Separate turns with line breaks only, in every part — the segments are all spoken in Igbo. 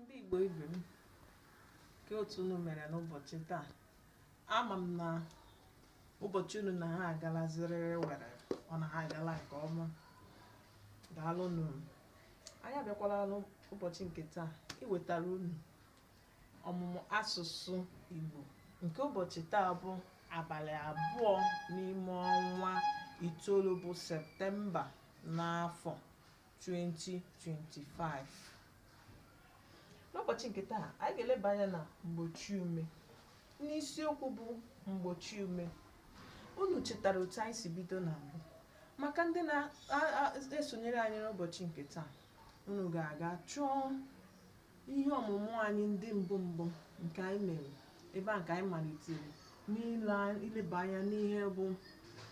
ndị Igbo ibe m ke otu unu mere n'ụbọchị taa ama m na ụbọchị unu na ha agala ziriri werere ọ na ha agala nke ọma daalụ unu anyị abịakwala n'ụbọchị nke taa iwetara unu ọmụmụ asụsụ Igbo nke ụbọchị taa bụ abalị abụọ n'ime ọnwa itoolu bụ septemba n'afọ 2025 n'ụbọchị nke taa anyị ga-eleba anya na mgbochi ume n'isiokwu bụ mgbochi ume unu chetara otu anyị si bido na mbụ maka ndị na-esonyere anyị n'ụbọchị nke taa unu ga-aga chọọ ihe ọmụmụ anyị ndị mbụ mbụ nke anyị mere ebe a ka anyị malitere n'ile- ileba anya n'ihe bụ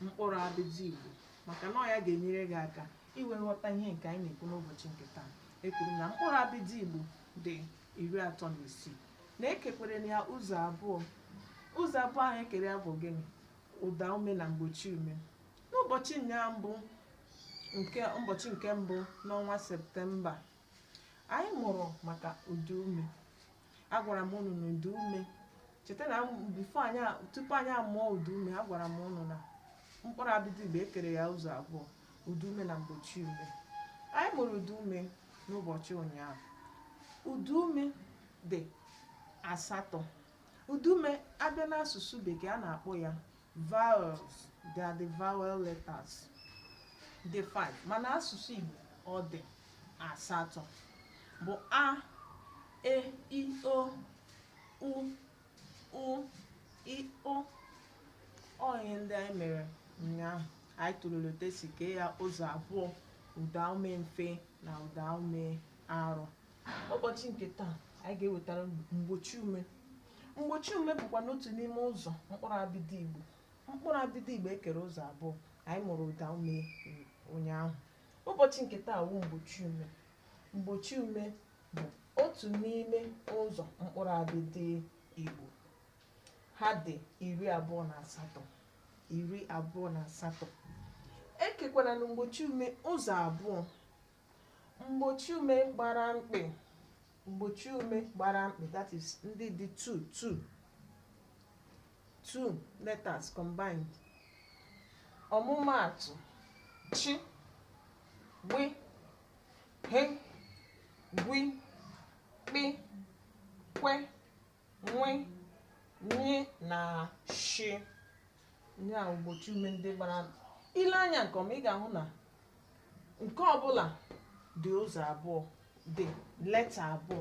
mkpụrụ abịdị igbo maka na ọ ya ga-enyere gị aka i wee ghọta ihe nke anyị na-ekwu n'ụbọchị nke taa ekwuru na mkpụrụ abịdị igbo dị iri atọ na isii na ekekwerenụ ya ụzọ abụọ ụzọ abụọ ahụ ekere ya bụ gịnị ụda ume na mgbochi ume n'ụbọchị ụnyaahụ bụ nke ụbọchị nke mbụ n'ọnwa septemba anyị mụrụ maka ụda ume agwara m unu na ụda ume cheta na before anyị a- tupu anyị amụọ ụda ume agwara m unu na mkpụrụ abịdị igbo ekere ya ụzọ abụọ ụda ume na mgbochi ume anyị mụrụ ụda ume n'ụbọchị ụnyaahụ ụda ume dị asatọ ụda ume a bịa n'asụsụ bekee a na-akpọ ya vowels they are the vowel letters dị 5 mana asụsụ Igbo ọ dị asatọ bụ a e i o u ụ ị ọ ọ ihe ndị anyị mere ụnyaahụ anyị tụlere otu esi kee ya ụzọ abụọ ụdaume mfe na ụdaume arọ ụbọchị nke taa anyị ga-ewetara mgbochi ume mgbochi ume bụkwanụ otu n'ime ụzọ mkpụrụ abịdị igbo mkpụrụ abịdị igbo ekere ụzọ abụọ anyị mụrụ ụda ume ụnyaahụ ụbọchị nke taa wụ mgbochi ume mgbochi ume bụ otu n'ime ụzọ mkpụrụ abịdị igbo ha dị iri abụọ na asatọ iri abụọ na asatọ ekekwaranụ mgbochi ume ụzọ abụọ mgbochi ume gbara mkpị mgbochi ume gbara mkpị that is ndị dị two two two letters combined ọmụmaatụ chi gbi ghe gwi kpị kwe nwe nye na shi ihe a mgbochiume ndị gbara i lee anya nke ọma ị ga-ahụ na nke ọbụla dị ụzọ abụọ dị leta abụọ